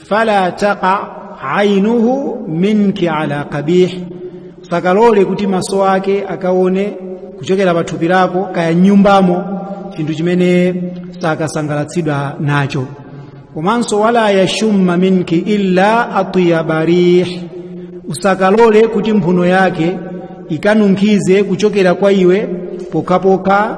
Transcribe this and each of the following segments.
fala taqa ainuhu minki ala qabih usakalole kuti maso ake akaone kuchokera pa thupi lako kaya m'nyumbamo chinthu chimene sakasangalatsidwa nacho komanso wala yashumma minki illa atyaba rih usakalole kuti mphuno yake ikanunkhize kuchokera kwa iwe pokhapokha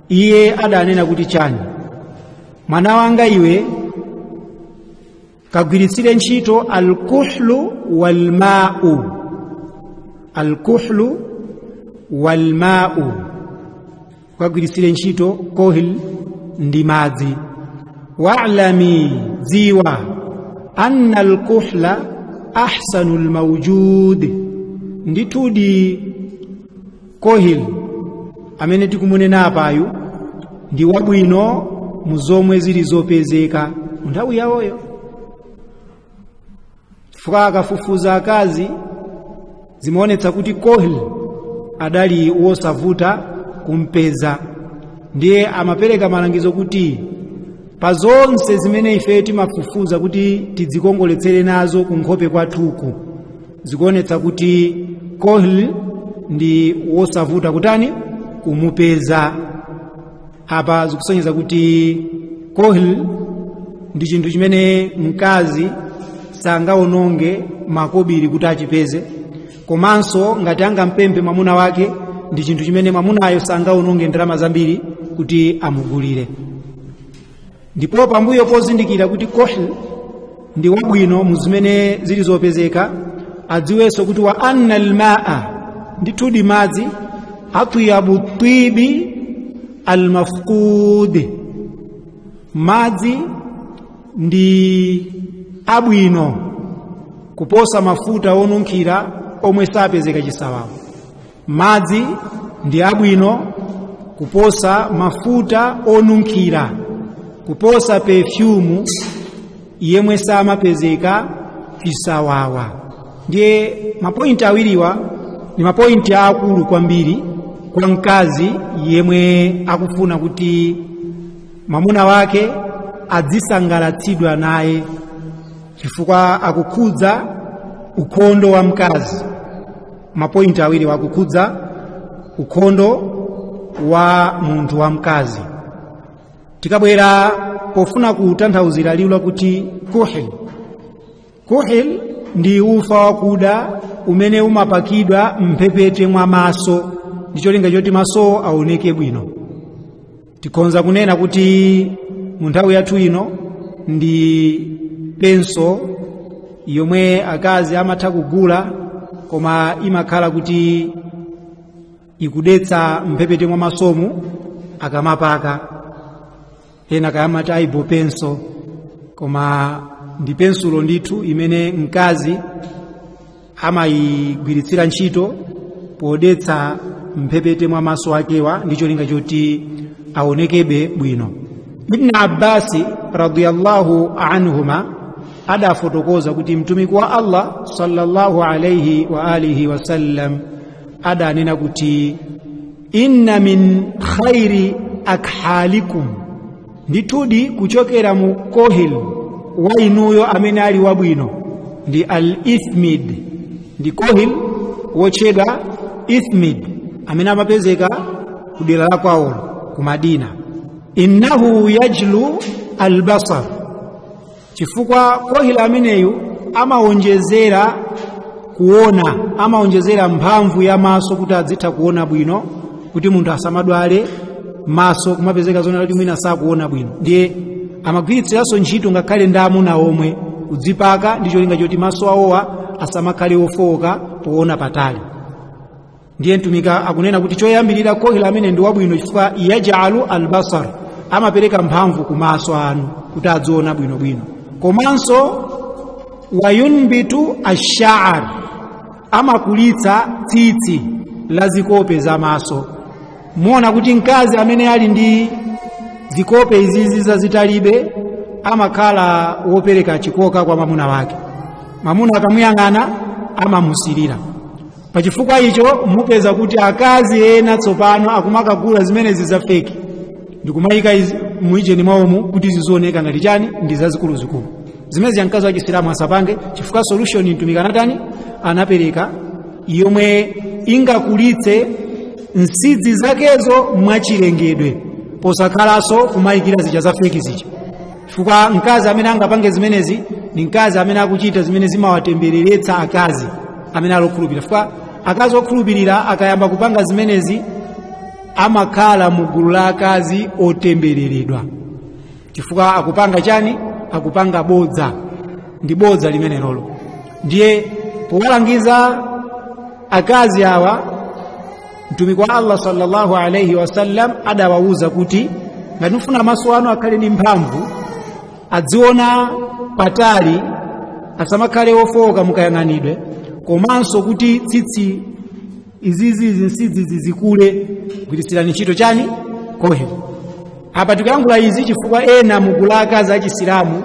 iye adanena kuti chani mwana wanga iwe kagwiritsire ntchito alkuhlu walmau alkuhlu walmau kagwiritsire ntchito kohil ndi madzi wa'lami dziwa anna alkuhla ahsanu lmaujud ndithudi kohil amene tikumunena apayu ndi wabwino mu zomwe zili zopezeka mu nthawi yawoyo chifukwa akafufuza akazi zimaonetsa kuti kohil adali wosavuta kumpeza ndiye amapereka malangizo kuti pa zonse zimene ife timafufuza kuti tidzikongoletsere nazo kunkhope kwathuku zikuonetsa kuti kohil ndi wosavuta kutani kumupeza apa zikusonyeza kuti kohil ndi chinthu chimene mkazi sangaononge makobiri kuti achipeze komanso ngati angampemphe mwamuna wake ndi chinthu chimene mwamunayo sangaononge ndalama zambiri kuti amugulire ndipo pambuyo pozindikira kuti kohil ndi wabwino mu zimene zili zopezeka adziwenso kuti wa anna almaa ndithudi madzi atyabu tibi almafqud madzi ndi abwino kuposa mafuta onunkhira omwe sapezeka chisawawa madzi ndi abwino kuposa mafuta onunkhira kuposa pefyumu yemwe samapezeka chisawawa ndiye mapointi awiriwa ndi mapointi aakulu kwambiri kwa mkazi yemwe akufuna kuti mwamuna wake adzisangalatsidwa naye chifukwa akukhudza ukhondo wa mkazi mapointi awiriwa akukhudza ukhondo wa munthu wamkazi tikabwera pofuna kutanthauzira liwu lakuti kuhil kuhil ndi ufa wakuda umene umapakidwa mphepete mwa maso ndi cholinga choti maso aoneke bwino tikhonza kunena kuti mu nthawi yathu ino ndi penso yomwe akazi amatha kugula koma imakhala kuti ikudetsa mphepete mwa masomu akamapaka enaake amati eyebrow pencil koma ndi pensulo ndithu imene mkazi amayigwiritsira ntchito podetsa mphepete mwa maso akewa ndi cholinga choti aonekeko bwino ibn abbasi radiyallahu anhuma adafotokoza kuti mtumiki wa allah sallallahu alaihi wa alihi wasallam adanena kuti inna min khairi akhalikum ndithudi kuchokera mu kohil wa inuyo amene ali wabwino ndi al ithmid ndi kohil wotchedwa ithmid amene amapezeka ku dera la kwawolo ku madina innahu yajlu albasar chifukwa kohila ameneyu amawonjezera kuona amawonjezera mphamvu ya maso kuti adzitha kuona bwino kuti munthu asamadwale maso kumapezeka zonena kuti mwina sakuona bwino ndiye amagwiritsiranso ntchito ngakhale ndi amuna omwe kudzipaka ndi cholinga choti maso awowa asamakhale ofowoka poona patali ndiye mtumiki akunena kuti choyambirira kohila ameneyu ndi wabwino chifukwa yajlu albasar amapereka mphamvu ku maso anu kuti adziona bwinobwino komanso wayunbitu ashaar amakulitsa tsitsi la zikope za maso muona kuti mkazi amene ali ndi zikope izizi zazitalibe amakhala wopereka chikoka kwa mamuna wake mamuna akamuyang'ana amamusirira pachifukwa icho mupeza kuti akazi ena tsopano akumakagula zimenezi za feki ndikumayika izi- mu ujeni mwawomu kuti zizioneka ngati chani ndi zazikuluzikulu zimenezija mkazi wa chisilamu asapange chifukwa solution mtumiki anatani anapereka yomwe ingakulitse nsidzi zakezo mwachilengedwe posakhalanso kumayikira zija za feki zija chifukwa mkazi amene angapange zimenezi ndi mkazi amene akuchita zimene zimawatembereretsa akazi amene ali okhulupirira chifukwa akazi okhulupirira akayamba kupanga zimenezi amakhala mu gulu la akazi otembereredwa chifukwa akupanga chani akupanga bodza ndi bodza limenelolo ndiye powalangiza akazi awa mtumiki wa allah sallallahu alaihi wasallam adawawuza kuti ngati mufuna maso anu akhale ndi mphamvu adziona patali asamakhale ofowoka mukayang'anidwe komanso kuti tsitsi izizi nsidzi zizikule gwiritsirani ntchito chani kohel apa tikuyankhula izi chifukwa ena mugulu la akazi achisilamu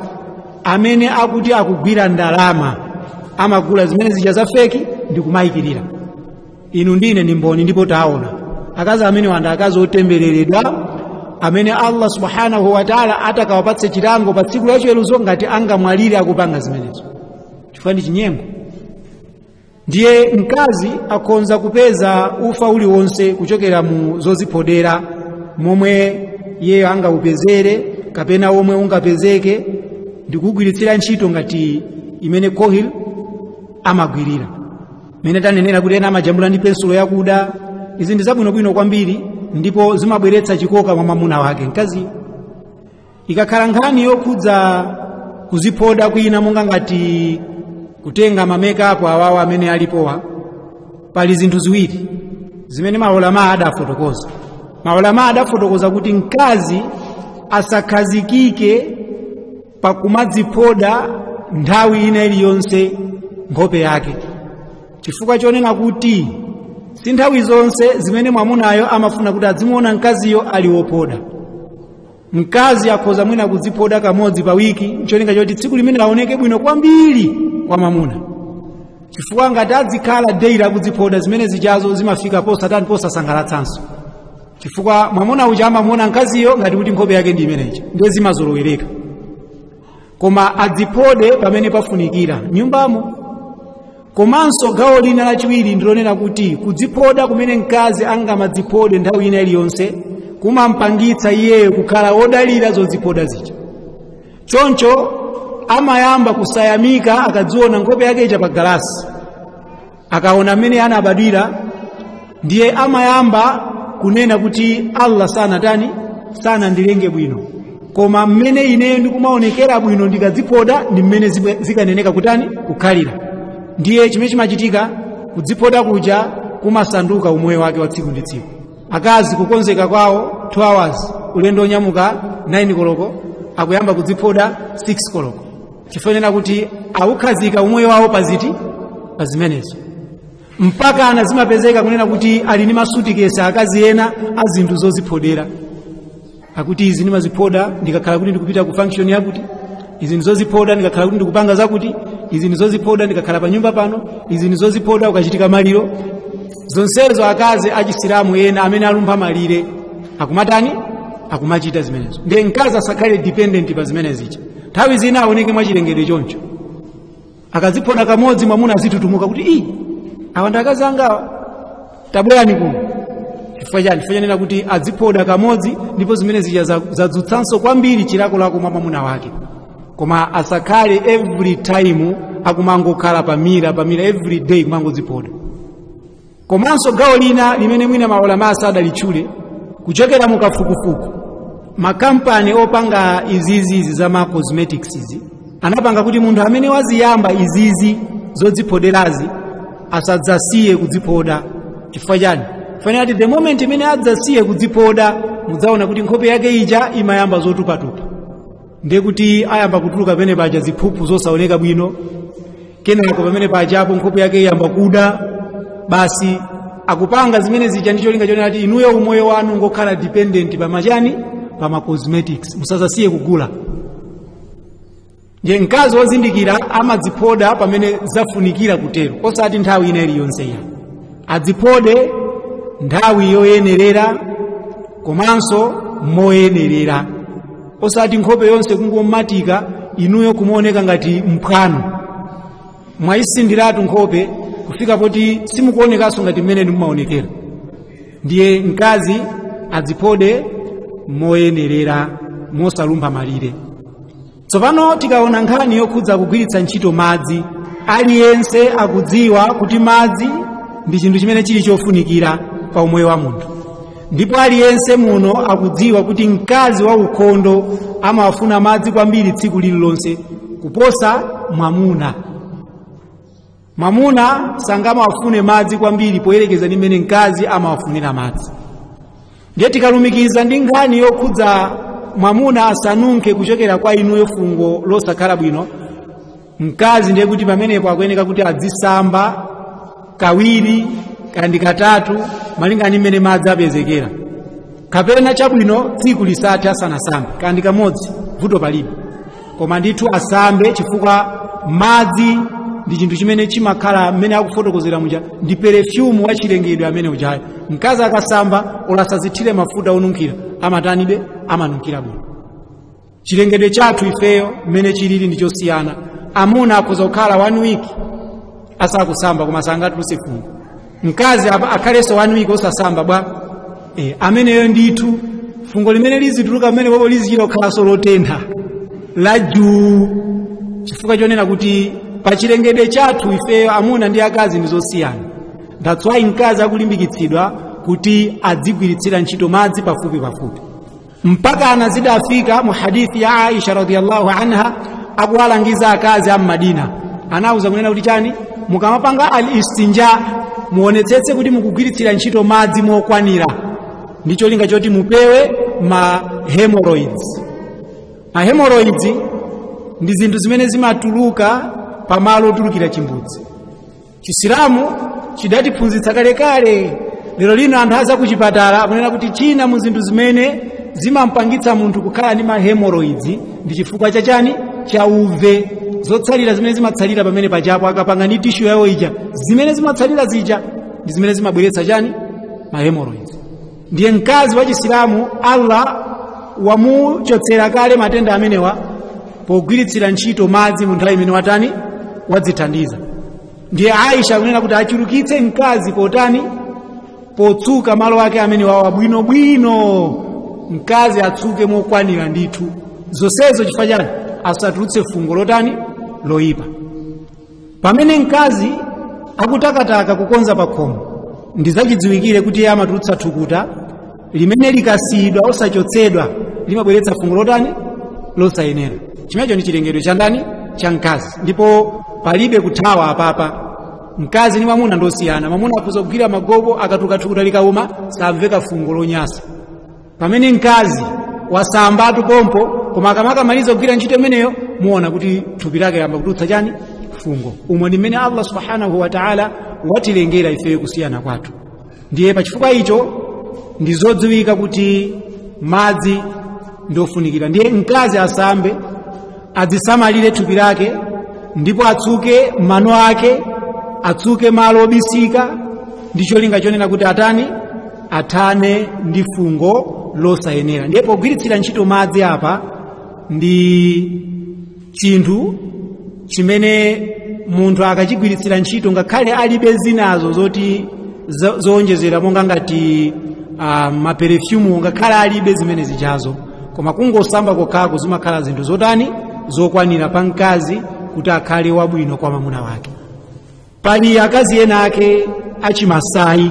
amene akuti akugwira ndalama amagula zimene zija za feki ndikumayikirira inu ndi ine ndi mboni ndipo taona akazi amenewa nda akazi otembereredwa amene allah subhanahu wataala atakawapatse chilango pa tsiku lachiweruzo ngati angamwalire akupanga zimenezo chifukwa ndi chinyengo ndiye mkazi akhonza kupeza ufa uliwonse kuchokera mu zoziphodera momwe iyeyo angaupezere kapena omwe ungapezeke ndikugwiritsira ntchito ngati mmene kohil amagwirira mene tanenera kuti ena amajambula ndi pensulo yakuda izi ndi zabwinobwino kwambiri ndipo zimabweretsa chikoka mwa mwamuna wake mkaziyo ikakhala nkhani yokhudza kuziphoda kwina monga ngati kutenga mamake up awawa amene alipowa pali zinthu ziwiri zimene maulama adafotokoza maulama adafotokoza kuti mkazi asakhazikike pakumadziphoda nthawi ina iliyonse nkhope yake chifukwa chonena kuti si nthawi zonse zimene mwamunayo amafuna kuti adzimuona mkaziyo ali wophoda mkazi akhoza mwina kudziphoda kamodzi pa wiki ncholinga choti tsiku limene aoneke bwino kwambiri kwa mwamuna chifukwa ngati adzikhala daily akudziphoda zimene zijazo zimafika posatani posasangalatsanso chifukwa mwamuna uja amamuona mkaziyo ngati kuti nkhope yake ndi imeneja ndiye zimazolowereka koma adziphode pamene pafunikira nyumbamo komanso gawo lina lachiwiri ndilonena kuti kudziphoda kumene mkazi angamadziphode nthawi ina iliyonse kumampangitsa iyeyo kukhala wodalira zodziphoda zija choncho amayamba kusayamika akadziona nkhope yake ija pa galasi akaona mmene anabadwira ndiye amayamba kunena kuti allah sanatani sanandilenge bwino koma mmene ineyo ndikumaonekera bwino ndikadziphoda ndi mmene zibwe- zikanayenera kutani kukhalira ndiye chimene chimachitika kudziphoda kuja kumasanduka umoyo wake wa tsiku ndi tsiku akazi kukonzeka kwawo 2 hours ulendo onyamuka 9 koloko akuyamba kudziphoda 6 koloko chifukwa chonena kuti awukhazika umoyo wawo based pa zimenezo mpakana zimapezeka kunena kuti ali ndi masutikesi akazi ena a zinthu zoziphodera akuti izi ndimaziphoda ndikakhala kuti ndikupita ku function yakuti izi ndizoziphoda ndikakhala kuti ndikupanga zakuti izi ndizoziphoda ndikakhala pa nyumba pano izi ndizoziphoda ukachitika maliro zonsezo akazi achisilamu ena amene alumpha malire akumatani akumachita zimenezo ndiye mkazi asakhale dependent pa zimenezija nthawi zina aoneke mwachilengedwe choncho akaziphoda kamodzi mwamuna azitutumuka kuti ii awa ndi akazi angawa tabwerani kuno chifukwa chani chifukwa chonena kuti aziphoda kamodzi ndipo zimene zija zadzutsanso kwambiri chilakolako mwa mwamuna wake koma asakhale every time akumangokhala pa mirror pa mirror every day kumangoziphoda komanso gawo lina limene mwina maulama asadalitchule kuchokera mu kafukufuku makampani opanga izizizi za ma cosmetics izi anapanga kuti munthu amene waziyamba izizi zodziphoderazi asadzasiye kudziphoda chifukwa chani chifukwa chonena kuti the moment imene adzasiye kudziphoda mudzaona kuti nkhope yake ija imayamba zotupatupa ndiye kuti ayamba kutuluka pamene paja ziphuphu zosaoneka bwino kenako pamene pajapo nkhope yake iyamba kuda basi akupanga zimene zija ndi cholinga chonena kuti inuyo umoyo wanu ungokhala dependent pa machani pa ma cosmetics musazasiye kugula ndiye mkazi wozindikira amadziphoda pamene zafunikira kutero osati nthawi ina iliyonse iya adziphode nthawi yoyenerera komanso moyenerera osati nkhope yonse kungomatika inuyo kumaoneka ngati mphwanu mwayisinthiratu nkhope kufika poti simukuonekanso ngati mmene mumaonekera ndiye mkazi adziphode moyenerera mosalumpha malire tsopano tikaona nkhani yokhudza kugwiritsa ntchito madzi aliyense akudziwa kuti madzi ndi chinthu chimene chili chofunikira pa umoyo wa munthu ndipo aliyense muno akudziwa kuti mkazi wa ukhondo amawafuna madzi kwambiri tsiku lililonse kuposa mwamuna mwamuna sangamawafune madzi kwambiri poyerekeza ndi mmene mkazi amawafunira madzi ndiye tikalumikiza ndi nkhani yokhudza mwamuna asanunkhe kuchokera kwa inuyo fungo losakhala bwino mkazi ndiye kuti pamenepo akuyeneka kuti adzisamba kawiri kandi katatu malinga ndi mmene madzi apezekera kapena chabwino tsiku lisathe asanasambe kandi kamodzi vuto palibe koma ndithu asambe chifukwa madzi ndi chinthu chimene chimakhala mmene akufotokozera muja ndi perefyumu wa chilengedwe amene ujayo mkazi akasamba olo asazithire mafuta onunkhira amatani amanunkhira bwino chilengedwe chathu ifeyo mmene chilili ndi chosiyana amuna akhoza kukhala one week asakusamba koma sangatuluse fungo mkazi akhalenso one week osasamba bwa, ameneyo ndithu fungo limene lizituluka pamenepopo lizichita kukhalanso lotentha la jii chifukwa chonena kuti pa chilengedwe chathu ifeyo amuna ndi akazi ndi zosiyana that's why mkazi akulimbikitsidwa kuti adzigwiritsira ntchito madzi pafupi pafupi mpaka ena zidafika mu hadithi ya aisha radhiallahu anha akuwalangiza akazi a mmadina anauza kunena kuti chani mukamapanga al istinja muonetsetse kuti mukugwiritsira ntchito madzi mokwanira ndi cholinga choti mupewe ma hemorrhoids ma hemorrhoids ndi zinthu zimene zimatuluka pamalo otulukira chimbudzi chisilamu chidatiphunzitsa kalekale lero lino anthu aza ku chipatala akunena kuti china mu zinthu zimene zimampangitsa munthu kukhala ndi ma hemorrhoids ndi chifukwa cha chani cha uve zotsalira zimene zimatsalira pamene pajapo akapanga ndi tishu yawo ija zimene zimatsalira zija ndi zimene zimabweretsa chani ma hemorrhoids ndiye mkazi wa chisilamu allah wamuchotsera kale matenda amenewa pogwiritsira ntchito madzi mu nthawi imene watani wadzithandiza ndiye aisha akunena kuti achulukitse mkazi potani potsuka malo ake amenewawa bwinobwino mkazi atsuke mokwanira ndithu zonsezo chifukwa chani asatulutse fungo lotani loyipa pamene mkazi akutakataka kukonza pakhomo ndizachidziwikire kuti iye amatulutsa thukuta limene likasiyidwa osachotsedwa limabweretsa fungo lotani losayenera chimenecho ndi chilengedwe cha ndani cha mkazi ndipo palibe kuthawa apapa mkazi ndi mwamuna ndosiyana mwamuna akhoza kugwira magobo akatuluka thukuta likauma samveka fungo lonyasa pamene mkazi wasambatu pompho koma akamakamaliza kugwira ntchito imeneyo muona kuti thupi lake layamba kutulutsa chani fungo umo ndi mmene allah subhanahu wataala watilengera ifeyo kusiyana kwathu ndiye pachifukwa icho ndi zodziwika kuti madzi ndiofunikira ndiye mkazi asambe adzisamalire thupi lake ndipo atsuke mano ake atsuke malo obisika ndi cholinga chonena kuti atani athane ndi fungo losayenera ndiye pogwiritsira ntchito madzi apa ndi chinthu chimene munthu akachigwiritsira ntchito ngakhale alibe zinazo zoti zo- zowonjezera monga ngati uh, maperefyumu ngakhale alibe zimene zijazo koma kungosamba kokhako zimakhala zinthu zotani zokwanira pa mkazi kuti akhale wabwino kwa mamuna wake pali akazi ena ake achimasayi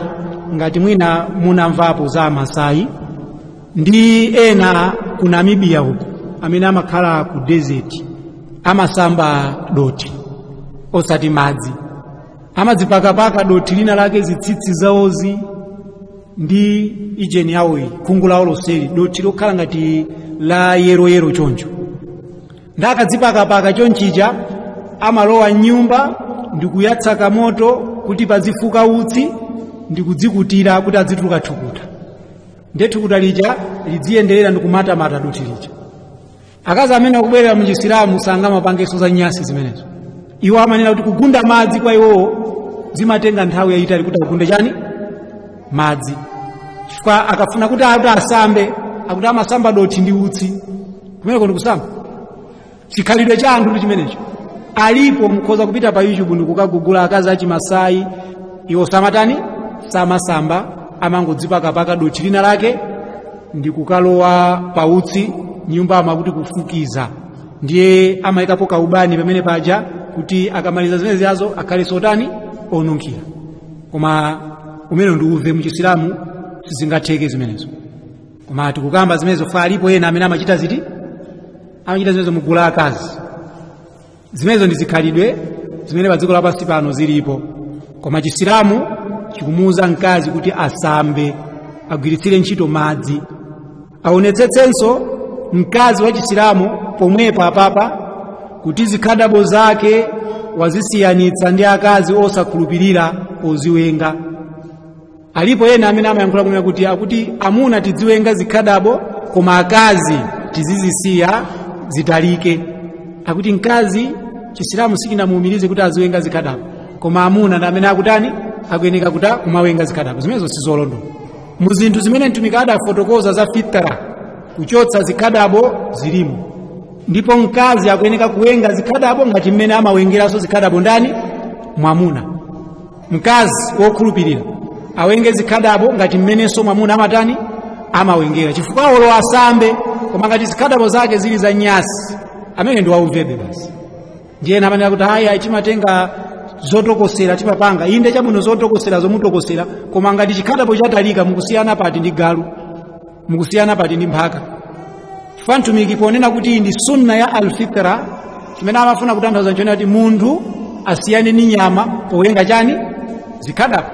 ngati mwina munamvapo za amasayi ndi ena ku namibiya uko amene amakhala ku desert amasamba dothi osati madzi amadzipakapaka dothi lina lake zitsitsi zawozi ndi haijini yawoyi khungu lawo lonseli dothi lokhala ngati la yeroyero choncho nde akadzipakapaka chonchija amalowa mnyumba ndi kuyatsa kamoto kuti pazifuka utsi ndi kudzikutira kuti adzituluka thukuta nde thukuta lija lidziyenderera ndi kumatamata dothi lija akazi amene akubwerera mu chisilamu sangamapangenso zanyasi zimenezo iwo amanena kuti kugunda madzi kwa iwowo zimatenga nthawi yayitali kuti agunde chani madzi chifukwa akafuna kuti akuti asambe akuti amasamba dothi ndi utsi kumeneko ndikusamba chikhalidwe cha anthu ndi chimenecho alipo mukhoza kupita pa youtube ndikukagugula akazi achimasayi iwo samatani samasamba amangodzipakapaka dothi lina lake ndi kukalowa pautsi mnyumbamo akuti kufukiza ndiye amayikapo kaubani pamene paja kuti akamaliza zimene zijazo akhale sotani onunkhira koma umenewo ndi uve muchisilamu sizingatheke zimenezo koma tikukamba zimenezo chifukwa alipo ena amene amachita ziti amachita zimenezo mu gulu la akazi zimenezo ndi zikhalidwe zimene pa dziko lapansi pano zilipo koma chisilamu chikumuwuza mkazi kuti asambe agwiritsire ntchito madzi aonetsetsenso mkazi wa chisilamu pomweponso apapa kuti zikhadabo zake wazisiyanitsa ndi akazi osakhulupirira poziwenga alipo ena amene amayankhula kunena kuti akuti amuna tidziwenga zikhadabo koma akazi tizizisiya zitalike akuti mkazi chisilamu sichinamuumirize kuti aziwenga zikhadabo koma amuna ndi amene akutani akuyeneka kumawenga zikhadabo zimenezo sizolondola mu zinthu zimene mtumiki adafotokoza za fitra kuchotsa zikhadabo zilimo ndipo mkazi akuyeneka kuwenga zikhadabo ngati mmene amawengeranso zikhadabo ndani mwamuna mkazi wokhulupirira awenge zikhadabo ngati mmenenso mwamuna amatani amawengera chifukwa olo asambe koma ngati zikhadabo zake zili zanyasi ameneyo ndi wauvebe basi ndiye ena amanena kuti ayi ayi timatenga zotokosera timapanga inde chabwino zotokosera zomutokosera koma ngati chikhadabo chatalika mukusiyana pati ndi galu mukusiyana pati ndi mphaka chifukwa mtumiki ponena kuti ndi sunna ya alfitra chimene amafuna kutanthauza nchonena kuti munthu asiyane ndi nyama powenga chani zikhadabo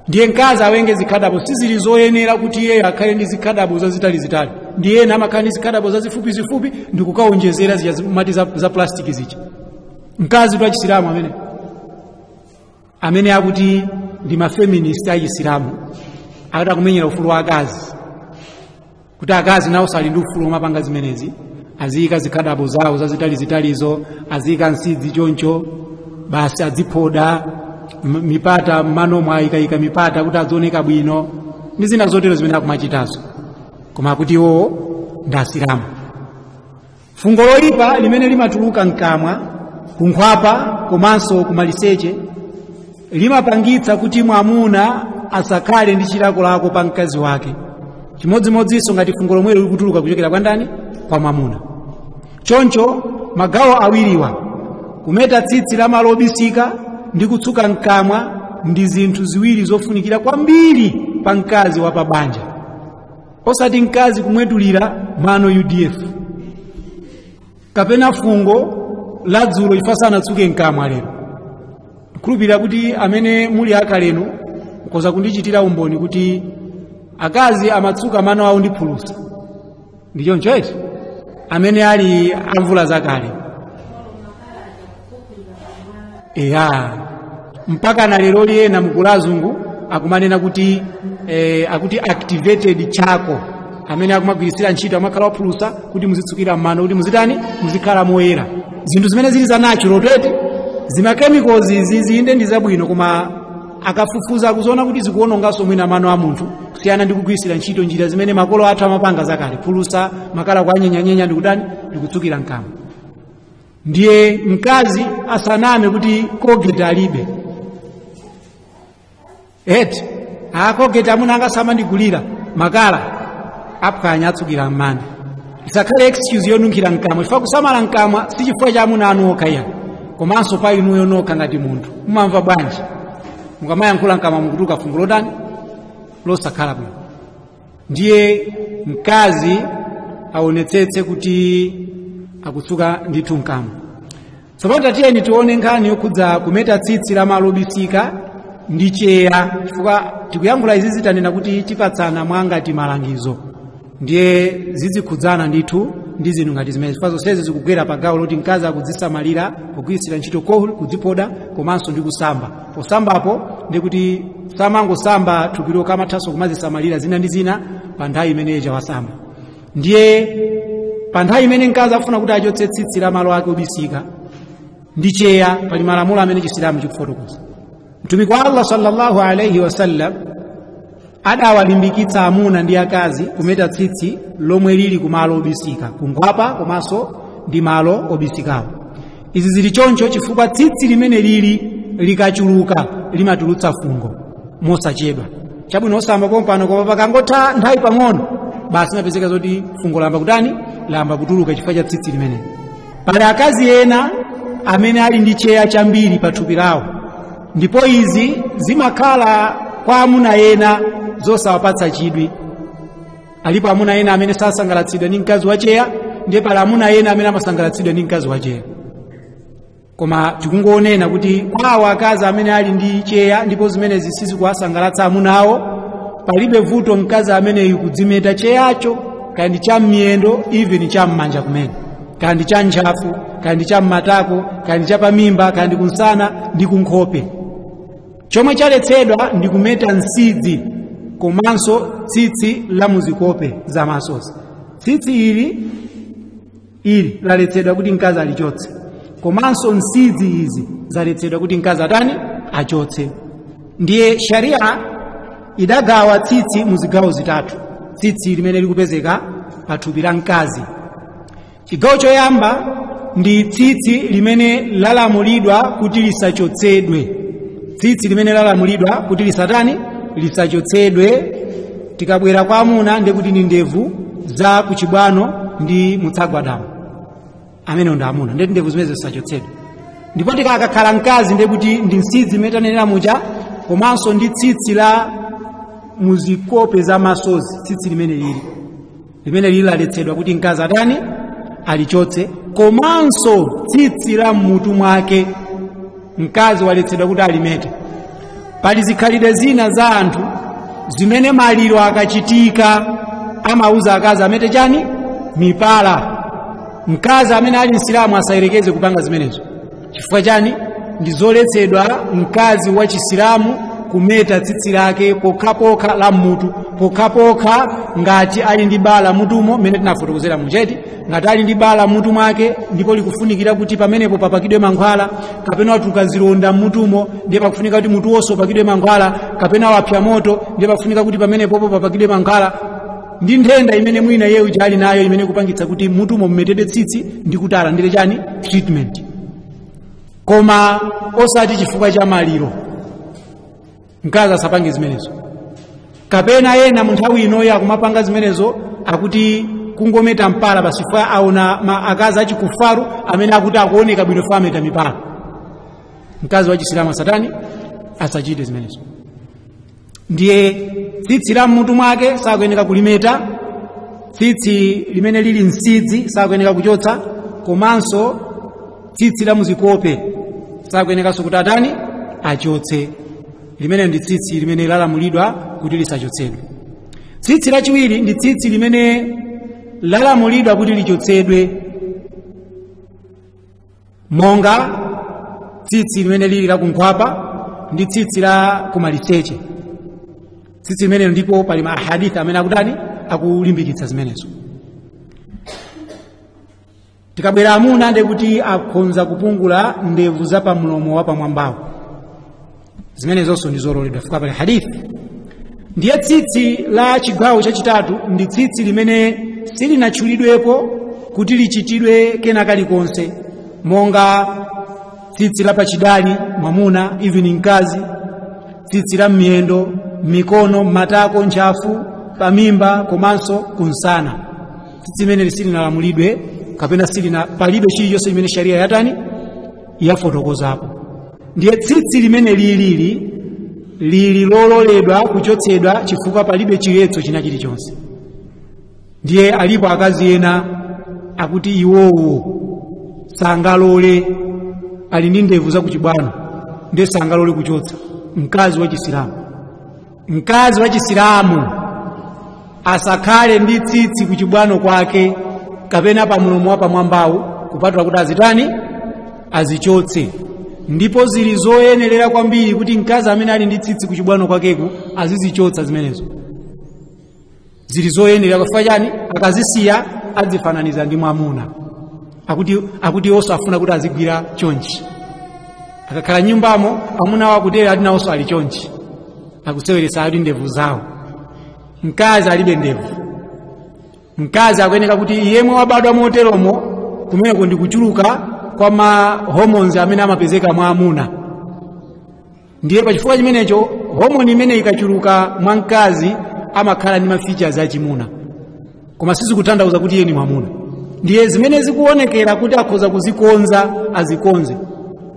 ndiye mkazi awenge zikhadabo sizili zoyenera kuti iyeyo akhale ndi zikhadabo zazitalizitali ndi ena amakhala ndi zikhadabo zazifupizifupi ndikukaonjezera zija amati za, za plastiki zija mkazi wa chisilamu amene amene akuti ndi mafeminist achisilamu akuti akumenyera ufulu wa akazi kuti akazi nawonso ali ndi ufulu womapanga zimenezi aziyika zikhadabo zawo zazitalizitalizo aziyika nsidzi choncho basi adziphoda m- mipata mmano ayikayika mipata kuti adzioneka bwino ndi zina zotero zimene akumachitazo koma kuti iwowo ndi asilamu fungo loyipa limene limatuluka mkamwa kunkhwapa komanso kumaliseche limapangitsa kuti mwamuna asakhale ndi chilakolako pa mkazi wake chimodzimodzinso ngati fungo lomwelo likutuluka kuchokera kwa ndani kwa mwamuna choncho magawo awiriwa kumeta tsitsi la malo obisika ndi kutsuka mkamwa ndi zinthu ziwiri zofunikira kwambiri pa mkazi wa pabanja osati mkazi kumwetulira mano udf kapena fungo la dzulo ife sanatsuke mkamwa lero ndikhulupirira kuti amene muli akalenu mukhoza kundichitira umboni kuti akazi amatsuka mano awo ndi phulusa ndi choncho eti amene ali amvula zakale eya mpaka na leroli ena mukuona azungu akumanena kuti eh, akuti activated charcoal amene akumagwiritsira ntchito makala ophulusa kuti muzitsukira mmano kuti muzitani muzikhala moyera zinthu zimene zili za natural tete zimakemicals izi inde ndi zabwino koma akafufuza akuziona kuti zikuononganso mwina mano a munthu kusiyana ndi kugwiritsira ntchito njira zimene makolo athu amapanga zakale phulusa makala kuanyenyanyenya ndikutani ndikutsukira mkamwa ndiye mkazi asaname kuti colgate alibe eti a colgate amuna anga samandigulira makala aphwanya atsukira mmano isakhale excuse yonunkhira mkamwa chifukwa kusamala mkamwa si chifukwa cha amuna anu okha iya komanso pa inuyo nokha ngati munthu mumamva bwanji mukamayankhula mkamwa mukutuluka fungo lotani losakhala bwino ndiye mkazi aonetsetse kuti akutsuka ndithu mkamwa tsopano tatiyeni tione nkhani yokhudza kumeta tsitsi la malo obisika ndi cheya chifukwa tikuyankhula izizi tanena kuti tipatsana mwa ngati malangizo ndiye zizikhudzana ndithu ndi zinthu ngati zimenezi chifukwa zonsezi zikugwera pa gawo loti mkazi akudzisamalira kugwiritsira ntchito kohol kudziphoda komanso ndi kusamba posambapo ndi kuti samangosamba thupi lokha amathanso kumazisamalira zina ndi zina pa nthawi imeneija wasamba ndiye pa nthawi imene mkazi akufuna kuti achotse tsitsi la malo ake obisika ndi cheya pali malamulo amene chisilamu chikufotokoza mtumiki wa allah sallallahu alaihi wasallam adawalimbikitsa amuna ndi akazi kumeta tsitsi lomwe lili ku malo obisika kunkhwapa komanso ndi malo obisikawo izi zili choncho chifukwa tsitsi limeneli likachuluka limatulutsa fungo mosachedwa chabwino osamba pompano koma pakangotha nthawi pang'ono basi umapezeka zoti fungo layamba kutani layamba kutuluka chifukwa cha tsitsi limeneli pali akazi ena amene ali ndi cheya chambiri pa thupi lawo ndipo izi zimakhala kwa amuna ena zosawapatsa chidwi alipo amuna ena amene sasangalatsidwa ndi mkazi wacheya ndiye pali amuna ena amene amasangalatsidwa ndi mkazi wacheya koma tikungonena kuti kwa akazi amene ali ndi cheya ndipo zimenezi sizikuwasangalatsa amuna awo palibe vuto mkazi ameneyu kudzimeta cheyacho kaya ndi cha mmiyendo even cha mmanja kumene kaya ndi cha ntchafu kaya ndi cha mmatako kaya ndi cha pamimba kaya ndi kumsana ndi kunkhope chomwe chaletsedwa ndi kumeta nsidzi komanso tsitsi la muzikope za maso tsitsi ili laletsedwa kuti mkazi alichotse komanso nsidzi izi zaletsedwa kuti mkazi atani achotse ndiye sharia idagawa tsitsi mu zigawo zitatu tsitsi limene likupezeka pa thupi la mkazi chigawo choyamba ndi tsitsi limene lalamulidwa kuti lisachotsedwe tsitsi limene lalamulidwa kuti lisatani lisachotsedwe tikabwera kwa amuna ndi kuti ndi ndevu za kuchibwano ndi mutsagwadamu amene ndi amuna ndiye kuti ndevu zimenezi zisachotsedwe ndipo kukakhala mkazi ndi kuti ndi nsidzi imene tanenera muja komanso ndi tsitsi la muzikope za masozi tsitsi limeneli limeneli laletsedwa kuti mkazi atani alichotse komanso tsitsi la mmutu mwake mkazi waletsedwa kuti alimete pali zikhalidwe zina za anthu zimene maliro akachitika amauza akazi amete chani mipala mkazi amene ali msilamu asayerekeze kupanga zimenezo chifukwa chani ndi zoletsedwa mkazi wa chisilamu kumeta tsitsi lake pokhapokha la mmutu pokhapokha ngati ali ndi bala mmutumo mmene tinafotokozera muja eti ngati ali ndi bala mmutu mwake ndipo likufunikira kuti pamenepo papakidwe mankhwala kapena watuluka zilonda mmutumo ndiye pakufunika kuti mutu wonse upakidwe mankhwala kapena wapsa moto ndiye pakufunika kuti pamenepopo papakidwe mankhwala ndi nthenda imene mwina yeuja ali nayo imene kupangitsa kuti mutumo mumetedwe tsitsi ndi kuti alandire chani treatment koma osati chifukwa cha maliro mkazi asapange zimenezo kapena ena mu nthawi inoyo akumapanga zimenezo akuti kungometa mpala basi fukwa aona akazi achikufaru amene akuti akuoneka bwino fukwa ameta mipala mkazi wa chisilamu asatani asachite zimenezo ndiye tsitsi la mmutu mwake sakuyeneka kulimeta tsitsi limene lili nsidze sakuyeneka kuchotsa komanso tsitsi la muzikope sakuyenekanso kuti atani achotse limene ndi tsitsi limene lalamulidwa kuti lisachotsedwe tsitsi lachiwiri ndi tsitsi limene lalamulidwa kuti lichotsedwe monga tsitsi limene lili la kunkhwapa ndi tsitsi la kumaliseche tsitsi limene ndipo pali ma ahadith amene akutani akulimbikitsa zimenezo tikabwera amuna ndi kuti akhonza kupungula ndevu za pamlomo wa pamwambawu zimenezonso ndi zololedwa fukwa pali hadithi ndiye tsitsi la chigawo chachitatu ndi tsitsi limene silinatchulidwepo kuti lichitidwe kena kalikonse monga tsitsi la pachidali mwamuna even mkazi tsitsi la mmiyendo mmikono mmatako ntchafu pamimba komanso kumsana tsitsi limeneli silinalamulidwe kapena silina palibe chilichonse chimene sharia yatani yafotokozapo ndiye tsitsi limeneli lili lili lololedwa kuchotsedwa chifukwa palibe chiletso china chilichonse ndiye alipo akazi ena akuti iwowo sangalole ali ndi ndevu zakuchibwano ndiye sangalole kuchotsa mkazi wa chisilamu mkazi wa chisilamu asakhale ndi tsitsi kuchibwano kwake kapena pa mulomo wapamwambawu kupatula kuti azitani azichotse ndipo zili zoyenerera kwambiri kuti mkazi amene ali ndi tsitsi kuchibwano kwakeku azizichotsa zimenezo zili zoyenerera fukwa chani akazisiya adzifananiza ndi mwamuna akuti iwonso afuna kuti azigwira chonchi akakhala mnyumbamo amuna awo akutero ati nawonso ali chonchi akuseweretsa ali ndevu zawo mkazi alibe ndevu mkazi akuyeneka kuti yemwe wabadwa moteromo kumeneko ndi kuchuluka kwa ma hormones amene amapezeka mwa amuna ndiye pa chifukwa chimenecho homoni imeneyi ikachuluka mwa mkazi amakhala ndi mafeatures achimuna koma sizikutanthauza kuti iye ni mwamuna ndiye zimene zikuonekera kuti akhoza kuzikonza azikonze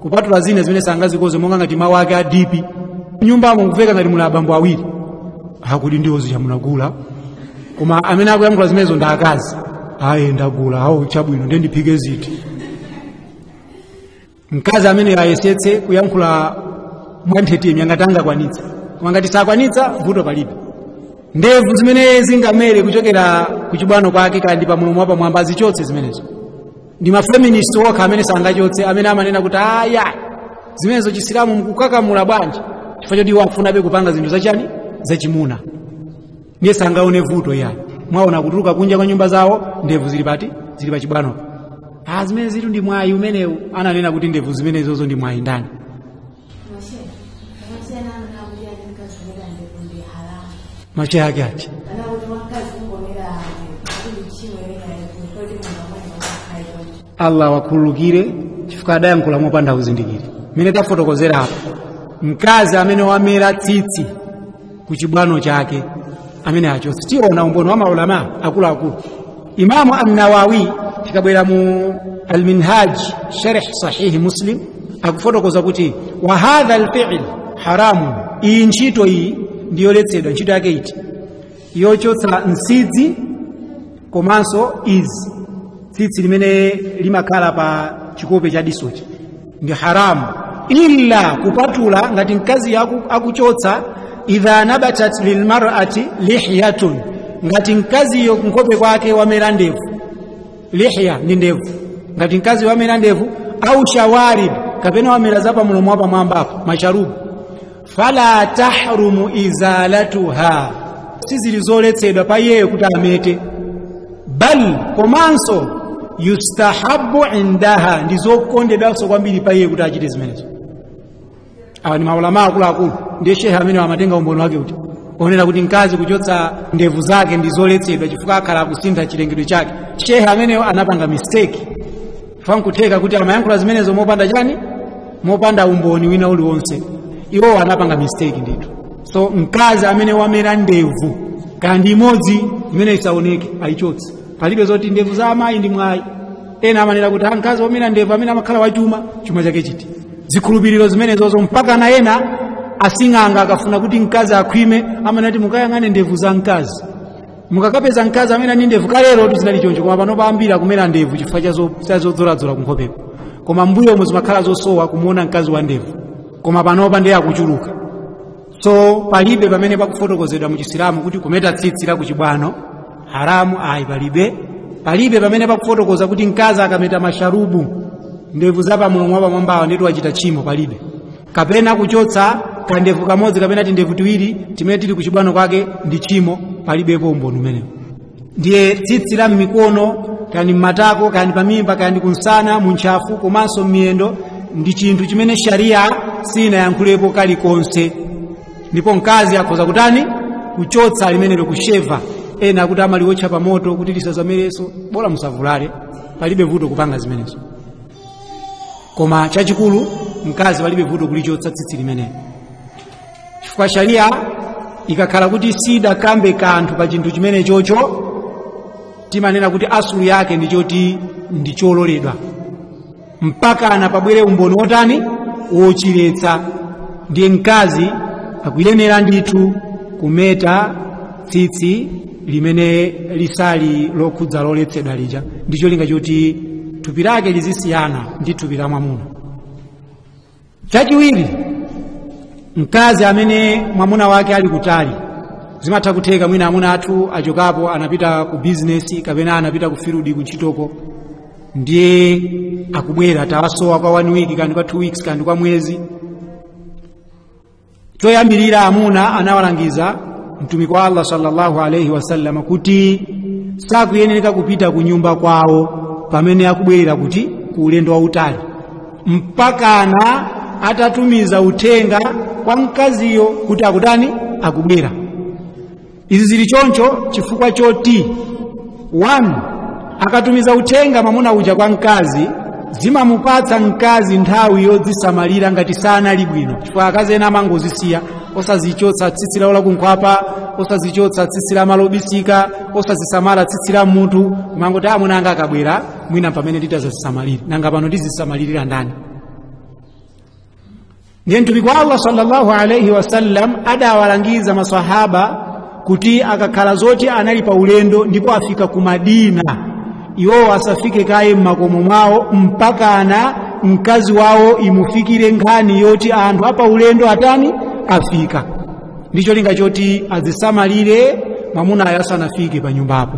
kupatula zina zimene sangazikonze monga ngati mawu ake a dipi nyumbamo mukuveka ngati muli abambo awiri akuti ndiwo zija munagula koma amene akuyankhula zimenezo ndi akazi ayi ndagula awo chabwino ndiye ndiphike ziti mkazi ameneyo ayesetse kuyankhula mwanthetemya ngati angakwanitsa koma ngati sakwanitsa vuto palibe ndevu zimene zingamere kuchokera ku chibwano kwake kaya ndi pamulomo wapamwamba azichotsa zimenezo ndi mafeminist okha amene sangachotse amene amanena kuti aya zimenezo chisilamu mkukakamula bwanji chifukwa choti iwo akufunabe kupanga zinthu zachani zachimuna ndiye sangaone vuto yani mwaona kutuluka kunja kwa nyumba zawo ndevu zili pati zili pachibwanopo ah zimenezitu ndi mwayi umenewu ananena kuti ndevu zimenezozo ndi mwayi ndani machehe ake ati allah awakhululukire chifukwa adayankhula mopanda uzindikiri mmene tafotokozera apa mkazi amene wamera tsitsi ku chibwano chake ameneyo achotse tiona umboni wa maulama akuluakulu imamu annawawi tikabwera mu alminhaj sharh sahihi muslim akufotokoza kuti wa hadha alfi'l haramun iyi ntchito iyi ndiyoletsedwa ntchito yake iti yochotsa nsidzi komanso izi tsitsi limene limakhala pa chikope cha disochi ndi haramu illa kupatula ngati mkaziyo akuchotsa idha nabatat lilmarati lihyatun ngati mkaziyo kunkhope kwake wamera ndevu lihya ndi ndevu ngati mkazi wamera ndevu au shawarib kapena wamera za pamulomo wapamwambapo masharubu fala tahrumu izalatuha sizili zoletsedwa pa iyeyo kuti amete bal komanso yustahabu indaha ndi zokondedwanso kwambiri pa iye kuti achite zimenezo awa ni maulama akuluakulu ndiye shehe ameneyo amatenga umboni wake kuti onena kuti mkazi kuchotsa ndevu zake ndi zoletsedwa chifukwa akhala akusintha chilengedwe chake shehe ameneyo anapanga mistake fankutheka kuti amayankhula zimenezo mopanda chani mopanda umboni wina uliwonse iwowo anapanga mistake ndithu so mkazi amene wamera ndevu kaya ndi imodzi imeneyo isaoneke ayichotse palibe zoti ndevu za amayi ndi mwayi ena amanena kuti "Ah, mkazi wamera ndevu ameneyo amakhala wachuma chuma chake chiti zikhulupiriro zimenezozo mpaka na ena asing'anga akafuna kuti mkazi akhwime amanena kuti mukayang'ane ndevu za mkazi mukakapeza mkazi amene ali ndi ndevu kalero ndithu zinali choncho koma panopa ambiri akumera ndevu chifukwa cha zo- cha zodzoladzola kunkhopeko koma mbuyo umo zimakhala zosowa kumuona mkazi wa ndevu koma panopa ndiye akuchuluka so palibe pamene pakufotokozedwa mu chisilamu kuti kumeta tsitsi la kuchibwano haramu ayi palibe palibe pamene pakufotokoza kuti mkazi akameta masharubu ndevu za pamlomo wapamwambawa ndeti wachita tchimo palibe kapena kuchotsa kandevu kamodzi kapena tindevu tiwiri timene tili kuchibwano kwake ndi tchimo palibepo umboni umenewo ndiye tsitsi la m'mikono kaya ndi m'matako kaya ndi pamimba kaya ndi kunsana muntchafu komanso m'miyendo ndi chinthu chimene shariya sinayankhulepo kalikonse ndipo mkazi akhoza kutani kuchotsa limenelo kusheva ena akuti amaliwotcha pamoto kuti lisazamereso bola musavulale palibe vuto kupanga zimenezo koma chachikulu mkazi palibe vuto kulichotsa tsitsi limeneli chifukwa sharia ikakhala kuti sidakambe kanthu pa chinthu chimene chocho timanena kuti asulu yake ndi choti ndi chololedwa mpakana pabwere umboni wotani wochiletsa ndiye mkazi akuyenera ndithu kumeta tsitsi limene lisali lokhudza loletsedwa lija ndi cholinga choti thupi lake lizisiyana ndi thupi la mwamuna chachiwiri mkazi amene mwamuna wake ali kutali zimatha kutheka mwina amuna athu achokapo anapita ku bizinesi kapena anapita ku filudi kuntchitoko ndiye akubwera tawasowa kwa one week kaya ndi kwa two weeks kaya ndi kwa mwezi choyambirira amuna anawalangiza mtumiki wa allah sallallahu alaihi wasallama kuti sakuyenereka kupita ku nyumba kwawo pamene akubwerera kuti ku ulendo wautali mpakana atatumiza uthenga kwa mkaziyo kuti akutani akubwera izi zili choncho chifukwa choti 1 akatumiza uthenga mwamuna uja kwa mkazi zimamupatsa mkazi nthawi yodzisamalira ngati sanali bwino chifukwa akazi ena amangozisiya osazichotsa tsitsi lawo lakunkhwapa osazichotsa tsitsi la malo obisika osazisamala tsitsi la m'mutu kumangoti amuna anga akabwera mwina m'pamene nditazazisamalire nanga pano ndizisamalirira ndani ndiye mtumiki wa allah sallallahu alaihi wasallam adawalangiza masahaba kuti akakhala zoti anali pa ulendo ndipo afika ku madina iwowo asafike kaye m'makomo mwawo mpakana mkazi wawo imufikire nkhani yoti anthu apa ulendo atani afika ndi cholinga choti azisamalire mwamunayo asanafike pa nyumbapo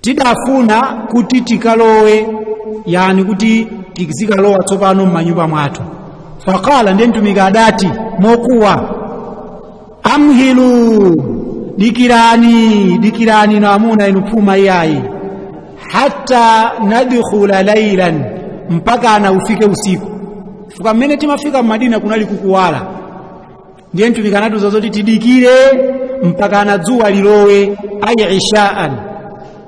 tidafuna kuti tikalowe yani kuti tizikalowa tsopano m'manyumba mwathu faqala ndiye mtumiki adati mokuwa amhilu dikirani dikirani na amuna inu phuma iyayi hatta nadkhula lailan mpakana ufike usiku fukwa mmene timafika m'madina kunali kukuwala ndiye mtumiki anatiuza zoti tidikire mpakana dzuwa lilowe ayi ishaan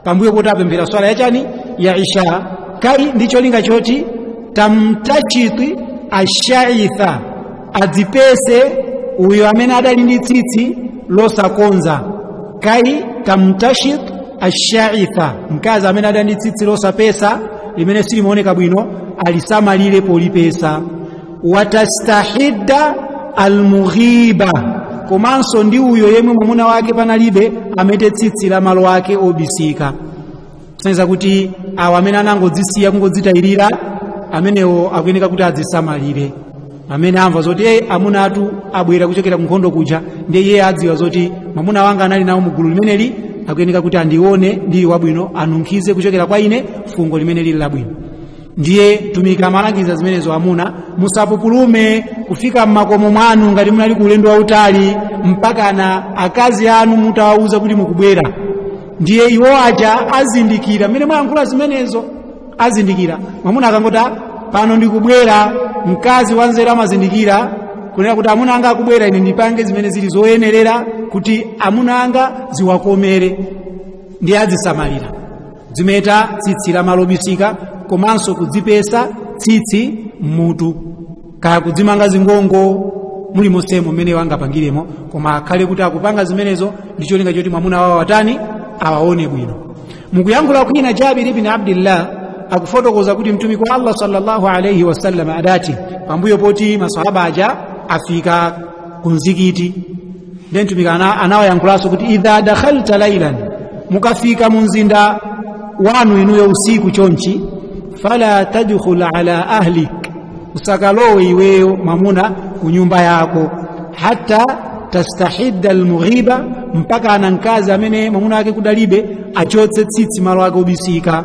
pambuyo poti apemphera swala yachani ya isha kai ndi cholinga choti tamtashit ashaitha adzipese uyo amene adali ndi tsitsi losakonza kai tamtashit ashaitha mkazi amene adali ndi tsitsi losapesa limene silimaoneka bwino alisamalire polipesa watastahidda almughiba komanso ndi uyo yemwe mwamuna wake panalibe amete tsitsi la malo ake obisika kusonyeza kuti awa amene anangodzisiya kungodzitayirira amenewo akuyeneka kuti adzisamalire amene amva zoti e amuna athu abwera kuchokera kunkhondo kuja ndiye iye adziwa zoti mwamuna wanga anali nawo mugulu limeneli akuyeneka kuti andione ndili wabwino anunkhize kuchokera kwa ine fungo limene lili labwino ndiye mtumiki amalangiza zimenezo amuna musapupulume kufika m'makomo mwanu ngati munali ku ulendo wautali mpakana akazi anu mutawawuza kuti mukubwera ndiye iwo aja azindikira mmene mwayankhula zimenezo azindikira mwamuna akangoti pano ndikubwera mkazi wanzeru amazindikira kunena kuti amuna anga akubwera ine ndipange zimene zili zoyenerera kuti amuna anga ziwakomere ndiye azisamalira kudzimeta tsitsi la malo obisika komanso kudzipesa tsitsi mmutu kaya kudzimanga zingongo mulimonsemo mmene iwo angapangiremo koma akhale kuti akupanga zimenezo ndi cholinga choti mwamuna wawo atani awaone bwino mukuyankhula kwina jabir ibn abdillah akufotokoza kuti mtumiki wa allah sallallahu alaihi wasallam adati pambuyo poti masahaba aja afika ku mzikiti ndiye mtumiki anawayankhulanso kuti idha dakhalta lailan mukafika mu mzinda wanu inuyo usiku chonchi fala tadkhul ala ahlik usakalowe iweyo mamuna ku nyumba yako hatta tastahidda almughiba mpakana mkazi amene mamuna wake kudalibe achotse tsitsi malo ake obisika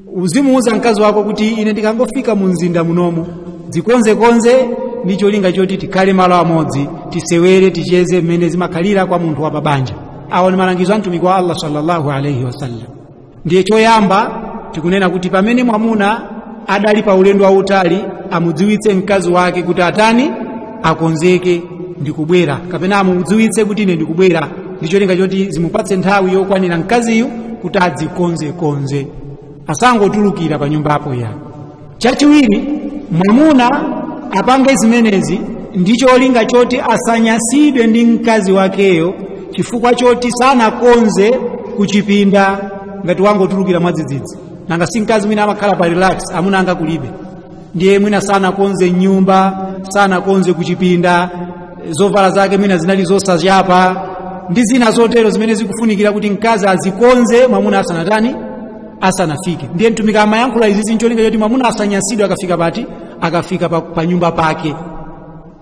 uzimuuza mkazi wako kuti ine ndikangofika mu mzinda munomu dzikonzekonze ndi cholinga choti tikhale malo amodzi tisewere ticheze mmene zimakhalira kwa munthu wa pabanja awo ndi malangizo a mtumiki wa allah sallallahu alaihi wasallam ndiye choyamba tikunena kuti pamene mwamuna adali pa ulendo wautali amudziwitse mkazi wake kuti atani akonzeke ndikubwera kapena amudziwitse kuti ine ndikubwera ndi cholinga choti zimupatse nthawi yokwanira mkaziyu kuti adzikonzekonze asangotulukira pa nyumbapo ya chachiwiri mwamuna apange zimenezi ndi cholinga choti asanyasidwe ndi mkazi wakeyo chifukwa choti sanakonze kuchipinda ngati wangotulukira mwadzidzidzi nanga si mkazi mwina amakhala pa relax amuna anga kulibe ndiye mwina sanakonze mnyumba sanakonze kuchipinda zovala zake mwina zinali zosachapa ndi zina zotero zimene zikufunikira kuti mkazi azikonze mwamuna asanatani asanafike ndiye mtumiki amayankhula izizi ncholinga choti mwamuna asanyasidwe akafika pati akafika pa, pa nyumba pake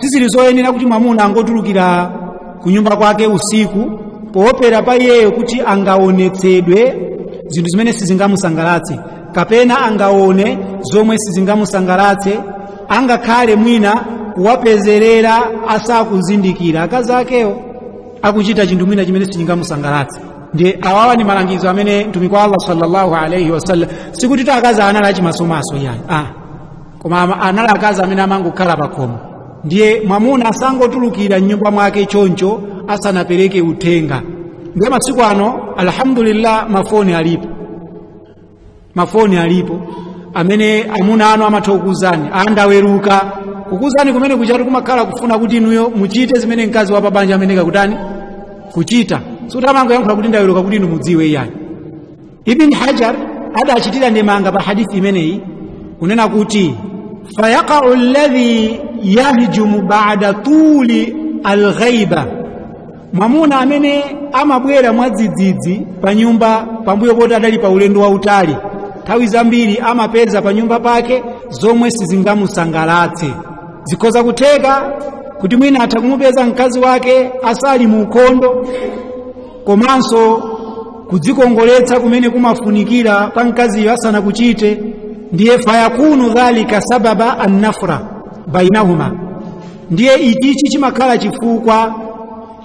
sizili zoyenera kuti mwamuna angotulukira ku nyumba kwake usiku poopera pa iyeyo kuti angaonetsedwe zinthu zimene sizingamusangalatse kapena angaone zomwe sizingamusangalatse angakhale mwina kuwapezerera asakuzindikira akazi akewo akuchita chinthu mwina chimene sichingamusangalatse ndi awawa ni malangizo amene mtumiki wa allah sallallahu alaihi wasallam sikuti ta akazi anali achimasomaso iyayi koma ama- anali akazi amene amangokhala pakhomo ndiye mwamuna asangotulukira mnyumba mwake choncho asanapereke uthenga ndiye masiku ano alhamdulillah mafoni alipo mafoni alipo amene amuna anu amatha kukuuzani ndaweruka kukuuzani kumene kuchatu kumakhala kufuna kuti inuyo muchite zimene mkazi wa pabanja amayenekera kutani kuchita sikuti amangoyankhula kuti ndaweruka kuti inu mudziwe iyayi ibn hajar adachitira ndemanga pa hadithi imeneyi kunena kuti fayaqau alladhi yahjumu ba'da tuli alghaiba mwamuna amene amabwera mwadzidzidzi pa nyumba pambuyo poti adali pa ulendo wautali nthawi zambiri amapeza pa nyumba pake zomwe sizingamusangalatse zikhoza kutheka kuti mwina atha kumupeza mkazi wake asali mu ukhondo komanso kudzikongoletsa kumene kumafunikira kwa mkaziyo asanakuchite ndiye fayakunu dhalika sababa annafra bainahuma ndiye ichichi chimakhala chifukwa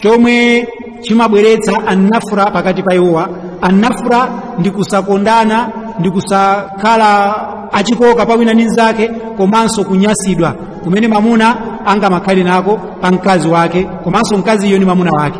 chomwe chimabweretsa annafra pakati pa iwowa annafra ndi kusakondana ndi kusakhala achikoka pa wina ndi mnzake komanso kunyasidwa kumene mamuna angamakhale nako pa mkazi wake komanso mkaziyo ndi mamuna wake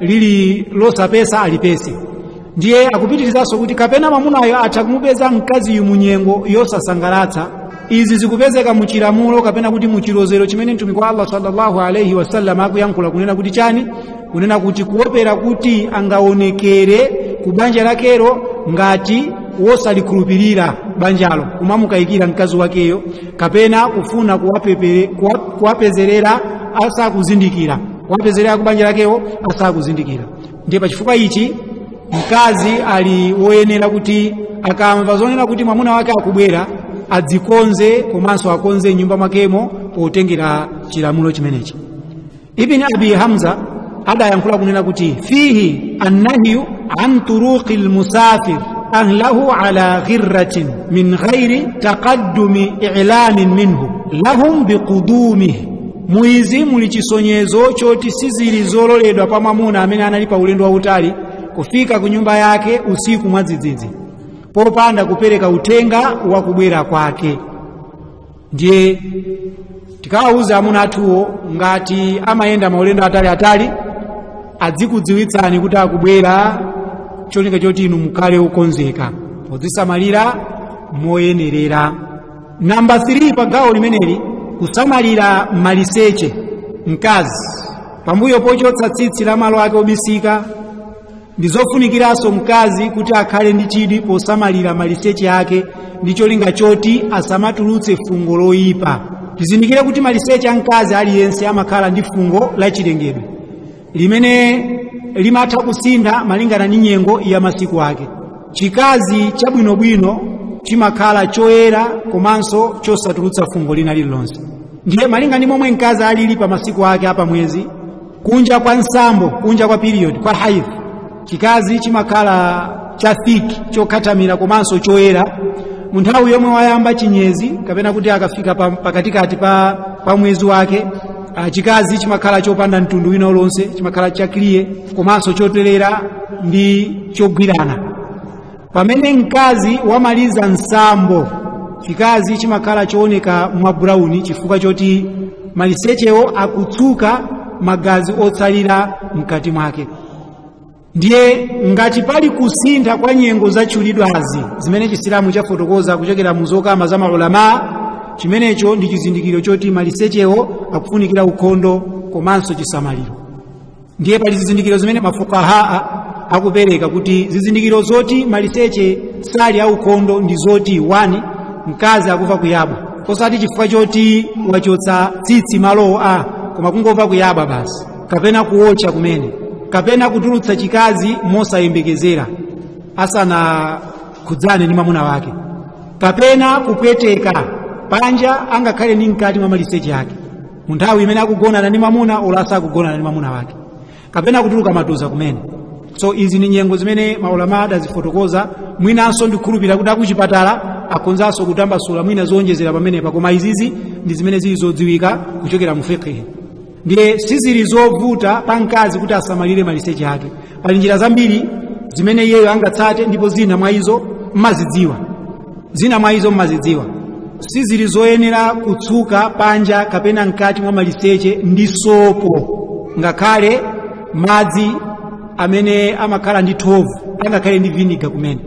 lili losapesa alipese ndiye akupitirizanso kuti kapena mwamunayo atha kumupeza mkaziyu mu nyengo yosasangalatsa izi zikupezeka mu chilamulo kapena kuti mu chilozero chimene mtumiki wa allah sallallahu alaihi wasallam akuyankhula kunena kuti chani kunena kuti kuopera kuti angaonekere ku banja lakelo ngati wosalikhulupirira banjalo kumamukayikira mkazi wakeyo kapena kufuna kuwapezerera asakuzindikira kuwapezerera ku banja lakewo asakuzindikira ndiye pachifukwa ichi mkazi ali woyenera kuti akamva zonena kuti mwamuna wake akubwera adzikonze komanso akonze mnyumba mwakemo potengera chilamulo chimenechi ibn abi hamza adayankhula kunena kuti fihi annahyu an turuqi lmusafir ahlahu ala ghirratin min ghairi taqaddumi ilamin minhu lahum biqudumihi mu izi muli chisonyezo choti sizili zololedwa pa mwamuna amene anali pa ulendo wautali kufika ku nyumba yake usiku mwadzidzidzi popanda kupereka uthenga wa kubwera kwake ndiye tikawawuza amuna athuwo ngati amayenda maulendo ataliatali adzikudziwitsani kuti akubwera cholinga choti inu mukhale okonzeka podzisamalira moyenerera namba 3 pa gawo limeneli kusamalira maliseche mkazi pambuyo pochotsa tsitsi la malo ake obisika ndi zofunikiranso mkazi kuti akhale ndi chidwi posamalira maliseche ake ndi cholinga choti asamatulutse fungo loyipa tizindikire kuti maliseche a mkazi aliyense amakhala ndi fungo lachilengedwe limene limatha kusintha malingana ndi nyengo ya masiku ake chikazi chabwinobwino chimakhala choyera komanso chosatulutsa fungo lina lililonse ndiye malinga ndi momwe mkazi alili pa masiku ake apamwezi kunja kwa nsambo kunja kwa period kwa haidh chikazi chimakhala cha thick chokhathamira komanso choyera mu nthawi yomwe wayamba chinyezi kapena kuti akafika pakatikati pa mwezi wake chikazi chimakhala chopanda mtundu wina ulonse chimakhala cha clear komanso chotelera ndi chogwirana pamene mkazi wamaliza nsambo chikazi chimakhala chooneka mwa brown chifukwa choti malisechewo akutsuka magazi otsalira mkati mwake ndiye ngati pali kusintha kwa nyengo zatchulidwazi zimene chisilamu chafotokoza kuchokera mu zokamba za maulama chimenecho ndi chizindikiro choti malisechewo akufunikira ukhondo komanso chisamaliro ndiye pali zizindikiro zimene mafukahaa akupereka kuti zizindikiro zoti maliseche sali aukhondo ndi zoti 1 mkazi akuva kuyabwa osati chifukwa choti wachotsa tsitsi malowo a koma kungova kuyabwa basi kapena kuwotcha kumene kapena kutulutsa chikazi mosayembekezera asanakhudzane ndi mwamuna wake kapena kupweteka panja angakhale ndi mkati mwa maliseche ake mu nthawi imene akugonana ndi mwamuna olo asakugonana ndi mwamuna wake kapena kutuluka matuza kumene so izi ni nyengo zimene maulama adazifotokoza mwinanso ndikhulupirira kuti akuchipatala akhonzanso kutambasula mwina zowonjezera pamenepa koma izizi ndi zimene zili zodziwika kuchokera mu fiqhi ndiye sizili zovuta pa mkazi kuti asamalire maliseche ake pali njira zambiri zimene iyeyo angatsate ndipo zina mwa izo mmazidziwa zina mwa izo mmazidziwa sizili zoyenera kutsuka panja kapena mkati mwa maliseche ndi sopo ngakhale madzi amene amakhala ndi thovu angakhale ndi viniga kumene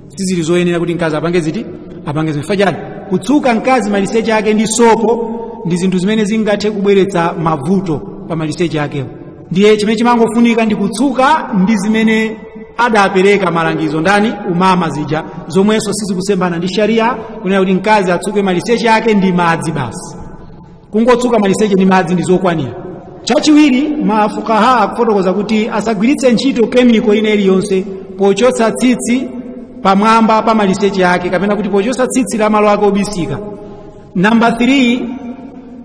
sizili zoyenera kuti mkazi apange ziti apange zifachani kutsuka mkazi maliseche ake ndi sopo ndi zinthu zimene zingathe kubweretsa mavuto pa maliseche akewo ndiye chimene chimangofunika ndi kutsuka ndi zimene adapereka malangizo ndani amama zija zomwenso sizikusemphana ndi sharia kunena kuti mkazi atsuke maliseche ake ndi madzi basi kungotsuka maliseche ndi madzi ndi zokwanira chachiwiri mafukaha akufotokoza kuti asagwiritse ntchito kemiko ina iliyonse pochotsa tsitsi pamwamba pa maliseche ake kapena kuti pochotsa tsitsi la malo ake obisika namba 3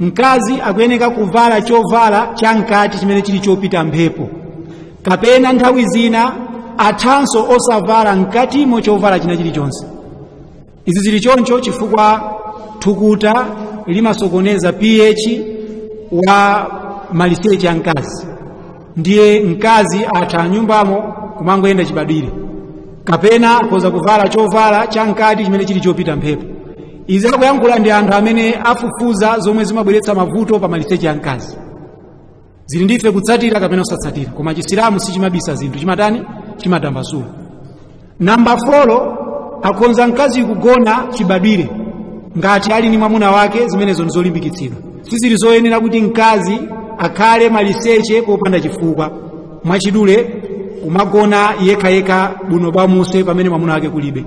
mkazi akuyeneka kuvala chovala cha mkati chimene chili chopita mphepo kapena nthawi zina athanso osavala mkatimo chovala china chilichonse izi zili choncho chifukwa thukuta limasokoneza ph wa maliseche a mkazi ndiye mkazi atha m'nyumbamo kumangoyenda chibadwire kapena akhoza kuvala chovala cha mkati chimene chili chopita mphepo izi akuyankhula ndi anthu amene afufuza zomwe zimabweretsa mavuto pa maliseche a mkazi zili ndife kutsatira kapena kusatsatira koma chisilamu sichimabisa zinthu chimatani chimatambasula namba folo akhonza mkazi kugona chibadwire ngati ali ni mwamuna wake zimenezo ndizolimbikitsidwa sizili zoyenera kuti mkazi akhale maliseche popanda chifukwa mwachidule kumagona yekhayekha buno bwamuse pamene mwamuna wake kulibe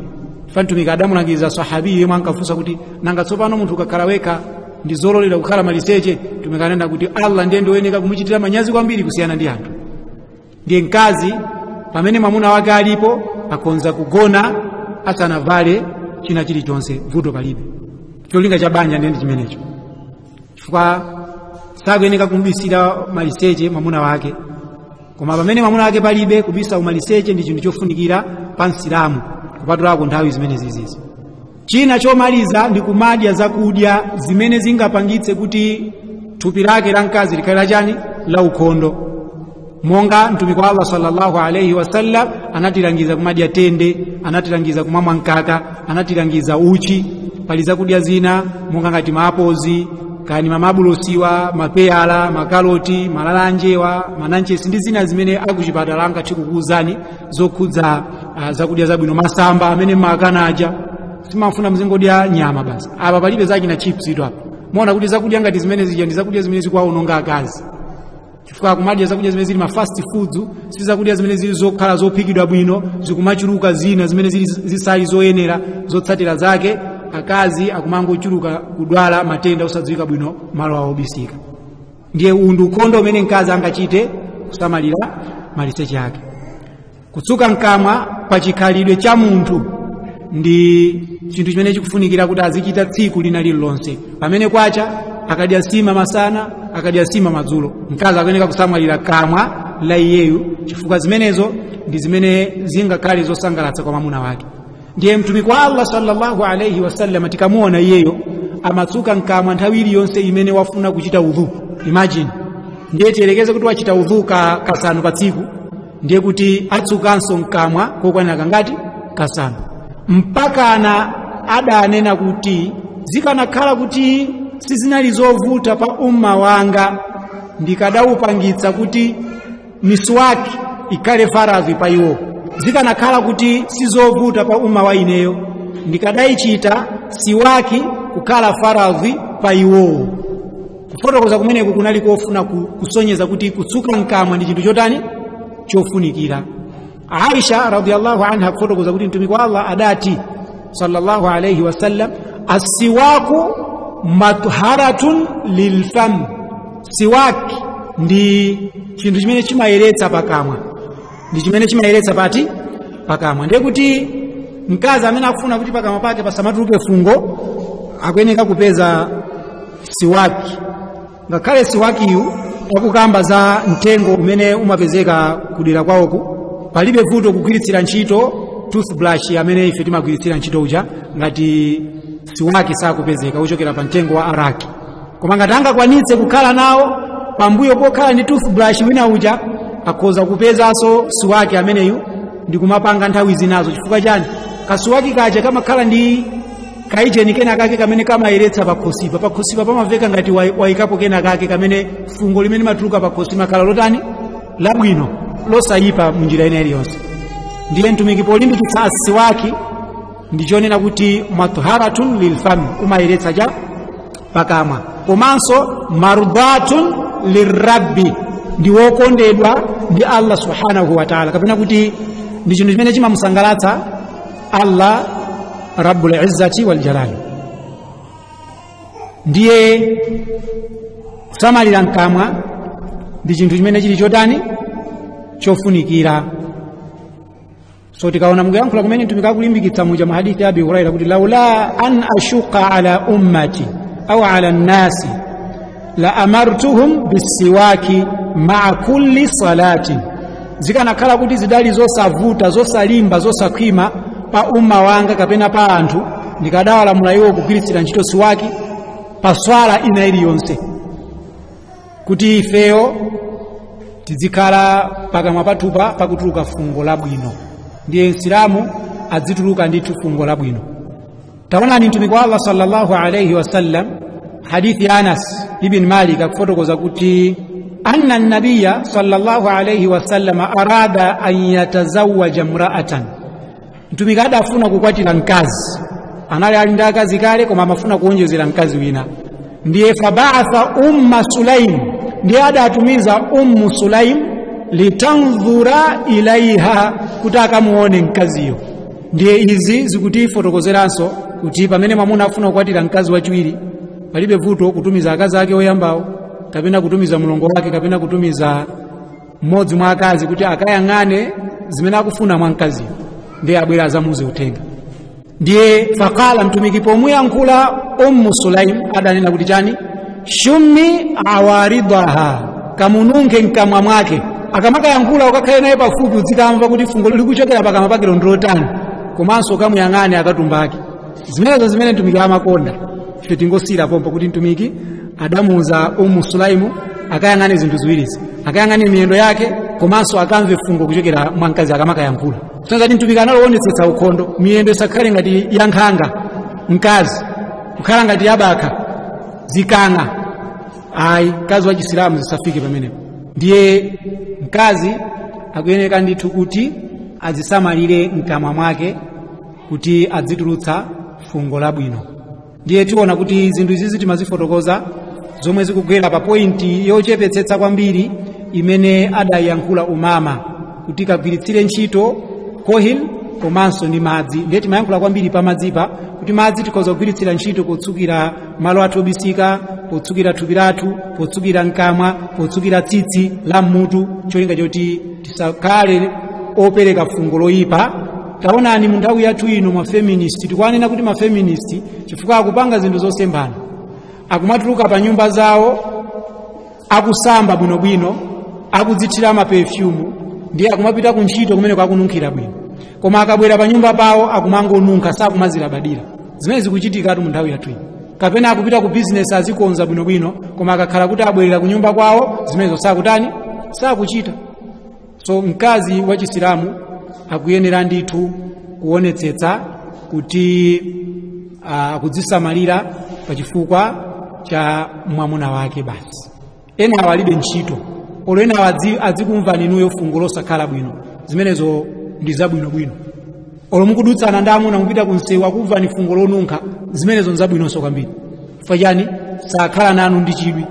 ifa mtumiki adamulangiza sahabi yemwe ankafunsa kuti nanga tsopano munthu ukakhala wekha ndi zololera kukhala maliseche mtumiki ananena kuti allah ndiye ndiwoyeneka kumuchitira manyazi kwambiri kusiyana ndi anthu ndiye mkazi pamene mwamuna wake alipo akhonza kugona asanavale china chilichonse vuto palibe cholinga cha banja ndiye ndi chimenecho chifukwa sakuyeneka kumubisira maliseche mwamuna wake koma pamene mwamuna wake palibe kubisa umaliseche ndi chinthu chofunikira pa msilamu kupatulako nthawi zimene zizizi china chomaliza ndi kumadya zakudya zimene zingapangitse kuti thupi lake la mkazi likhale la chani la ukhondo monga mtumiki wa allah sallallahu alaihi wasallam anatilangiza kumadya tende anatilangiza kumamwa mkaka anatilangiza uchi pali zakudya zina monga ngati maapozi kani mamabulosiwa mapeyala makaloti malalanjewa mananchesi ndi zina zimene akuchipatala angathe kukuwuzani zokhudza uh, zakudya zabwino masamba amene makana aja simafuna muzingodya nyama basi apa palibe za china chips ito apa muona kuti zakudya ngati zimene zija ndi zakudya zimene zikuwaononga akazi chifukwa kumadya zakudya zimene zili ma fast foods si zakudya zimene zili zokhala zophikidwa bwino zikumachuluka zina zimene zili zisali zoyenera zotsatira zake akazi akumangochuluka kudwala matenda osadziwika bwino malo awo obisika ndiye uwu ndi ukhondo umene mkazi angachite kusamalira maliseche ake kutsuka mkamwa pa chikhalidwe cha munthu ndi chinthu chimene chikufunikira kuti azichita tsiku lina lililonse pamene kwacha akadya nsima masana akadya nsima madzulo mkazi akuyeneka kusamalira kamwa la iyeyo chifukwa zimenezo ndi zimene zingakhale zosangalatsa kwa mwamuna wake ndiye mtumiki wa allah sallallahu alaihi wasallam tikamuona iyeyo amatsuka mkamwa nthawi iliyonse imene wafuna kuchita udhu imagine ndiye tiyerekeze kuti wachita udhu ka kasanu pa tsiku ndiye kuti atsukanso mkamwa kokwanira kangati kasanu mpakana adanena kuti zikanakhala kuti sizinali zovuta pa umma wanga ndikadaupangitsa kuti miswaki ikhale faradhi pa iwowo zikanakhala kuti sizovuta pa umma wa ineyo ndikadayichita siwaki kukhala faradhi pa iwowo kufotokoza kumeneku kunali kofuna ku- kusonyeza kuti kutsuka mkamwa ndi chinthu chotani chofunikira aisha radiallahu anha akufotokoza kuti mtumiki wa allah adati sallallahu alaihi wasallam assiwaku matharatun lilfam siwaki ndi chinthu chimene chimayeretsa pakamwa ndi chimene chimayeretsa pati pakamwa ndiye kuti mkazi amene akufuna kuti pakamwa pake pasamatuluke fungo akuyeneka kupeza siwaki ngakhale siwakiyu akukamba za mtengo umene umapezeka kudera kwawoku palibe vuto kugwiritsira ntchito toothbrush amene ife timagwiritsira ntchito uja ngati siwaki sakupezeka ochokera pa mtengo wa araki koma ngati angakwanitse kukhala nawo pambuyo pokhala ndi toothbrush wina uja akhoza kupezanso siwaki ameneyu ndi kumapanga nthawi zinazo chifukwa chani kasiwaki kaja kamakhala ndi kaicheni kena kake kamene kamayeretsa pakhosipa pakhosipa pamaveka ngati wai- waikapo kena kake kamene fungo limene matuluka pakhosi makhala lotani labwino losayipa munjira ina iliyonse ndiye mtumiki polimbikitsa asiwaki ndichonena kuti matharatun lilfami umayeretsa cha pakamwa komanso mardatun lirabbi ndi wokondedwa ndi allah subhanahu wataala kapena kuti ndi chinthu chimene chimamusangalatsa allah rabbul izzati wal jalali ndiye kusamalira mkamwa ndi chinthu chimene chili chotani chofunikira so tikaona mukuyankhula kumene mtumiki akulimbikitsa muja mu hadithi abi huraira kuti laula an ashuka ala ummati au ala nnasi la amartuhum bisiwaki maa kulli salatin zikanakhala kuti zidali zosavuta zosalimba zosakhwima pa umma wanga kapena pa anthu ndikadawalamula iwo kugwiritsira ntchito siwaki pa swala ina iliyonse kuti ifeyo tizikhala pakamwa pathupa pakutuluka fungo labwino ndiye msilamu adzituluka ndithu fungo labwino taonani mtumiki wa allah sallallahu alaihi wasallam hadithi ya anas ibn malik akufotokoza kuti anna nabiya sallallahu alaihi wasallam arada an yatazawaja mraatan mtumiki adafuna kukwatira mkazi anali ali ndi akazi kale koma amafuna kuonjezera mkazi wina ndiye fabaatha umma sulaim ndiye adatumiza ummu sulaim litandhura ilaiha kuti akamuone mkaziyo ndiye izi zikutifotokozeranso kuti pamene mwamuna afuna kukwatira mkazi wachiwiri palibe vuto kutumiza akazi ake oyambawo kapena kutumiza mlongo wake kapena kutumiza mmodzi mwa akazi kuti akayang'ane zimene akufuna mwa mkaziyo ndiye abwere azamuuze uthenga ndiye faqala mtumiki pomuyankhula ummu sulaim adanena kuti chani shummi awaridaha kamununkhe mkamwa mwake akamakayankhula ukakhale naye pafupi udzikamva kuti fungo likuchokera pakamwa pake ndilotani komanso ukamuyang'ane akatumba ake zimenezo zimene mtumiki amakonda ife tingosiyira pompo kuti mtumiki adamuuza umu sulaimu akayang'ane zinthu ziwirizi akayang'ane miyendo yake komanso akamve fungo kuchokera mwa mkazi akamakayankhula sanzati mtumiki analoonetsetsa ukhondo miyendo isakhale ngati yankhanga mkazi kukhala ngati yabakha zikang'a ayi mkazi wa chisilamu zisafike pamenepo ndiye mkazi akuyeneka ndithu kuti azisamalire mkamwa mwake kuti adzitulutsa fungo labwino ndiye tiona kuti zinthu izizi timazifotokoza zomwe zikugwera pa pointi yochepetsetsa kwambiri imene adayankhula umama kuti kagwiritsire ntchito kohil komanso ndi madzi ndiye timayankhula kwambiri pa madzipa kuti madzi tikhoza kugwiritsira ntchito potsukira malo athu obisika potsukira thupi lathu potsukira mkamwa potsukira tsitsi la mmutu cholinga choti tisakhale opereka fungo loyipa taonani mu nthawi yathu ino mafeministi tikuwanena kuti mafeministi chifukwa akupanga zinthu zosemphana akumatuluka pa nyumba zawo akusamba bwinobwino akudzithira mapefyumu ndiye akumapita ku ntchito kumeneko akununkhira bwino koma akabwera pa nyumba pawo akumangonunkha sakumazilabadira zimene zikuchitikatu mu nthawi yathu ino kapena akupita ku bizinesi azikonza bwinobwino koma akakhala kuti abwerera ku nyumba kwawo zimenezo sakutani sakuchita so mkazi wa chisilamu akuyenera ndithu kuonetsetsa kuti ah, akudzisamalira pa chifukwa cha mwamuna wake basi enawa alibe ntchito olo enawa adzi- adzikumvani inuyo fungo losakhala bwino zimenezo ndi zabwinobwino olo mukudutsana ndi amuna mupita kunsewu akumvani fungo lonunkha zimenezo nzabwinonso kwambiri chifukwa chani sakhala nanu ndi chidwi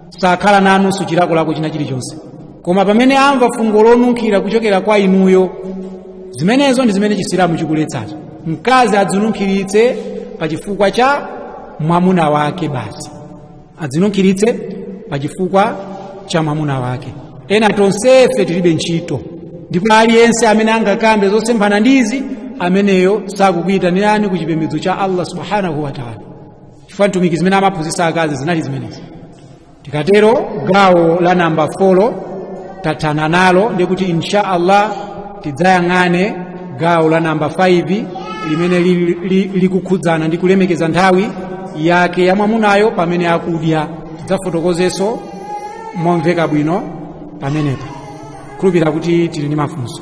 sakhala nanunso chilakolako china chilichonse koma pamene amva fungo lonunkhira kuchokera kwa inuyo zimenezo ndi zimene chisilamu chikuletsazo mkazi adzinunkhiritse pa chifukwa cha mwamuna wake basi adzinunkhiritse pa chifukwa cha mwamuna wake ena tonsefe tilibe ntchito ndipo aliyense amene angakambe zosemphana ndizi ameneyo sakukuyitanirani ku chipembedzo cha allah subhanahu wa taala chifukwa mtumiki zimene amaphunzitsa akazi zinali zimenezi tikatero gawo la namba 4 tathana nalo ndi kuti insha allah tidzayang'ane gawo la namba 5 limene li- li- likukhudzana ndi kulemekeza nthawi yake ya mwamunayo pamene akudya tidzafotokozenso momveka bwino pamenepa khulupira kuti tili ndi mafunso